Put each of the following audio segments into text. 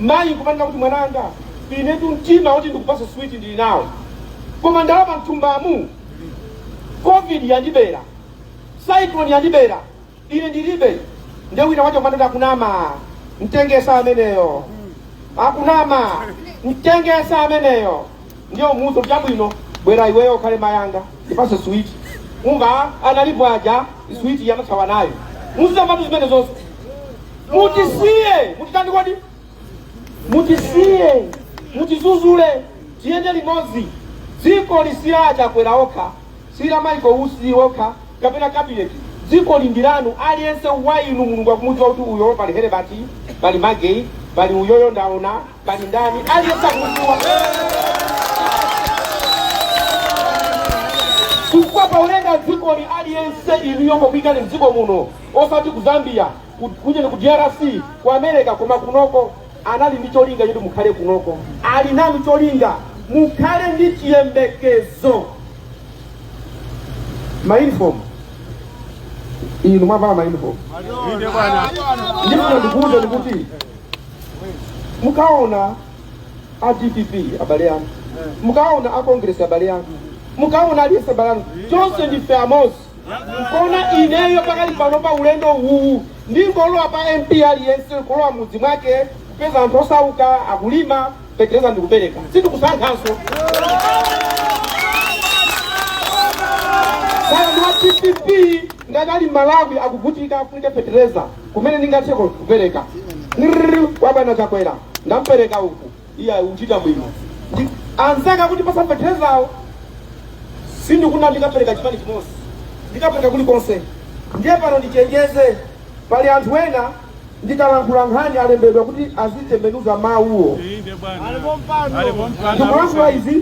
Mayi kumanena kuti mwananga, inetu mtima woti ndikupatse switi ndili nawo, koma ndalama m'thumbamu, covid yandibera, cyclone yandibera, ine ndilibe. Nde wina uja kumanena akunama, mtengesa ameneyo, akunama, mtengesa ameneyo. Ndiye umuuze chabwino, bwera iweyo ukhale mayanga, ndipatse switi. Umve analipo aja switi yamathawa nayo, muzisamatu zimene zonse mutisiye mutitani kodi mutisiye mutizuzule tiyende limodzi dzikoli si a Chakwera okha si a Maiko Usi okha kapena kabineti dzikoli ndi lanu aliyense wa inu mulungu akumudziwa kuti uyo pali Herebati pali magei pali uyoyo ndaona Pali ndani aliyense akumudziwa? Chifukwa paulenda dzikoli aliyense inuyo pokuyikani mdziko muno osati ku Zambia ku- kujeni ku DRC ku America koma kunoko anali ndi cholinga choti mukhale kunoko ali nanu cholinga mukhale ndi chiyembekezo mayunifomu inu mwavala mayunifomu Inde bwana. ndipo ndikuwuzeni kuti mukaona a dpp abale anga mukaona a congress abale anga mukaona aliyense abale anga tonse ndife amodzi nkona ineyo pakali pano pa ulendo uwu ndingolowa pa mp aliyense kulowa mudzi mwake kupeza anthu osauka akulima petereza ndikupereka sindikusankhanso kaya ndi wa dpp ngati ali mmalawi akuvutika afunike petereza kumene ndingathe kupereka kwa bwana chakwera ndapereka uku iya wachita bwino anzake akuti apatse peterezayo sindikufuna ndikapereka chipani chimodzi ndikapereka kulikonse ndiye pano ndichenjeze pali anthu ena ndikalankhula nkhani alembedwa kuti azitembenuza mawuwo ndikulankhula izi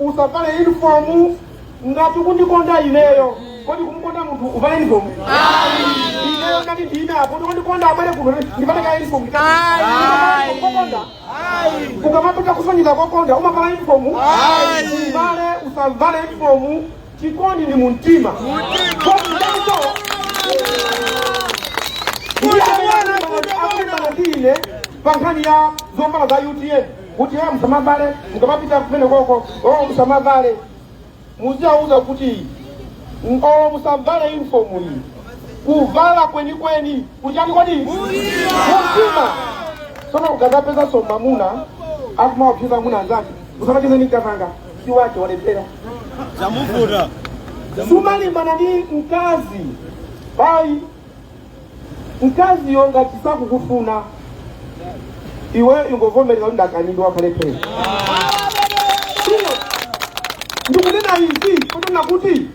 usavale uniform ngati ukundikonda ineyo kodi kumukonda munthu uvale uniform ineyo ngati ndine apo kuti kundikonda abale kuno ndimpatse ka uniform kokonda ukamapita kusonyeza kokonda umavala uniform uvale usavale uniform chikondi ndi mumtima kokondanso ndiye amene akulimbana ndi ine pa nkhani ya zovala za utm kuti iwo musamavale mukamapita kumene koko oo musamavale muziwauza kuti oo musavale uniform iyi kuvala kwenikweni kuli chani kodi mtima sono ukazapeza mwamuna akumaopseza amuna anzake usamacheze ni mkazanga si wake walephera Zamuvuta. sumalimbana ndi mkazi bayi mkaziyo ngati sakukufuna iwe ungovomereza kuti ndakanidwa kale pena Sio. ndikunena izi kunena kuti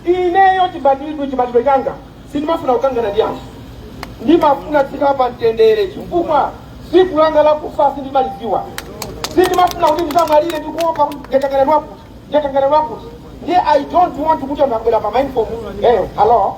ineyo chibatidwe chibatidwe changa sindimafuna kukangana ndi anthu ndimafuna kukhala pa mtendere chifukwa tsiku langa lakufa sindimalidziwa sindimafuna kuti ndizamwalire ndikuopa ndikangana ndi wakuti ndikangana ndi wakuti ndiye i don't want kuti anthu abwera pa mindfom eyo hello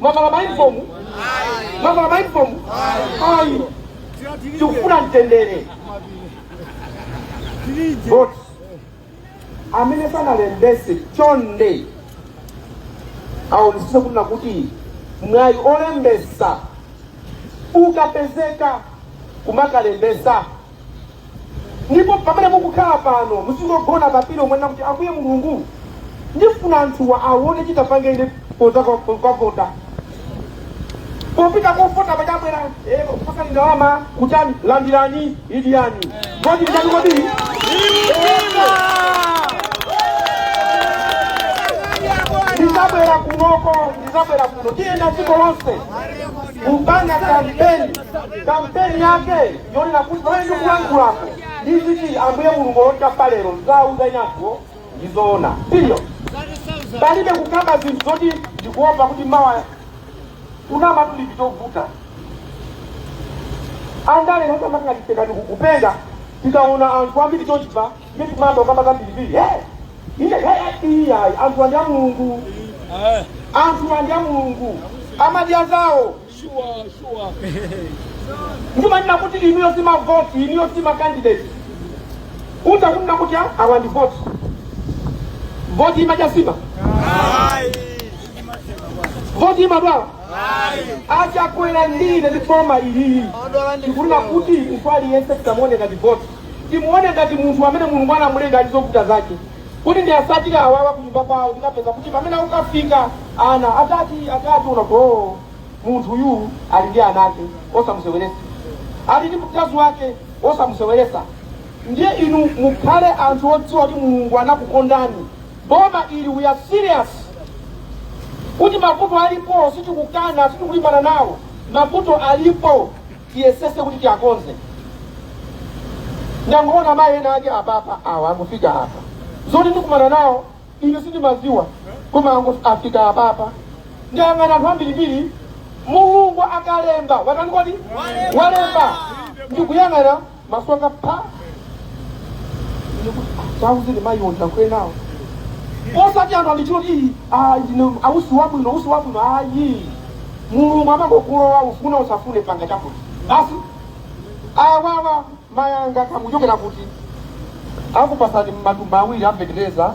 mwavala mayunifomu mwavala mayunifomu ayi tikufuna mtendere but amene sanalembese chonde aonesese kunena kuti mwayi olembesa ukapezeka kumakalembesa ndipo pamene mukukhala pano musingogona pempherani mwina kuti ambuye mulungu ndifuna anthuwa awone chitapange ine koza kwa- kwa- kwavota popita kovota pachabwera eh, pasani ndalama kutani landirani idyani kodi ndani kodi ndizabwera kunoko ndizabwera kuno tiyenda dziko lonse kupanga kampeni kampeni yake yonena kuti pamene ndikulankhulapo ndiziti ambuye mulungu wotampa lero ndizawuza inunso ndizoona period palibe kukamba zinthu zoti ndikuopa kuti mawa kunama ndi chinthu chovuta andale noti amakangaliseka ndikukupenga tikaona anthu ambiri chochipa ndi kumayamba kukamba zambiribiri he ine he iyayi anthu awa ndi a mulungu anthu awa ndi a mulungu amadya zawo ndimanena kuti inuyo si mavoti inuyo si makandidate uta kunena kuti "Ah, awa ndi voti voti imadya nsima voti imadwala achakwera ndine ndi boma ili ndikunena kuti munthu aliyense tisamuone ngati voti timuone ngati munthu amene mulungu anamulenga ndi zovuta zake Kuti ndiwasatire awawa kunyumba kwao ndinapeza kuti pamene ukafika ana atatu atatu unati oo munthu uyu ali ndi ana ake osamusewelesa ali ndi mkazi wake osamusewelesa ndiye inu mukhale anthu odziwa kuti mulungu anakukondani boma ili we are serious kuti mavuto alipo sitikukana sitikulimbana nawo mavuto alipo tiyesese kuti tiyakonze ndangoona mayi ena ake apapa awa angofika apa zoti ndikumana nawo ine sindimaziwa koma ango- afika apapa ndiyang'ana anthu ambirimbiri mulungu akalemba watani kodi walemba ndikuyang'ana maso anga pa Chauta mayiwo ndakwiya nawo osati anthu andichoti ayi usiku wabwino usiku wabwino ayi mulungu amangokulowa ufuna usafune panga chakuti basi awawa mayi anga kaya muchokera kuti akupasani matumba awiri a feteleza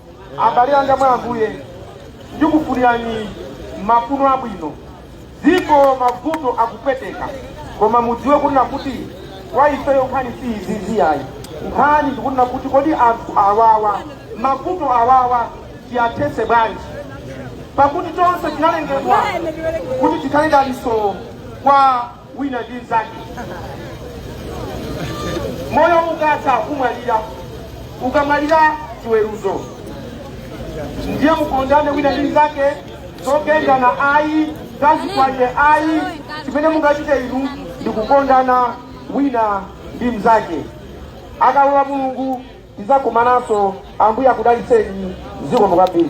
abale anga mwa ambuye ndikufunirani mafuno abwino dziko mavuto akupweteka koma mudziwe kunena kuti kwa ifeyo nkhani si izizi ayi nkhani ndikunena kuti kodi anthu awawa mavuto awawa tiyathese bwanji pakuti tonse tinalengedwa kuti tikhale dalitso kwa wina ndi mzake moyo ukatha kumwalira ukamwalira chiweruzo ndiye mukondane wina ndi mzake zogendana ayi za zikwanje ayi chimene mungachite inu ndikukondana wina ndi mzake akalola mulungu Tizakumananso ambuye akudalitseni zikomo kwambiri.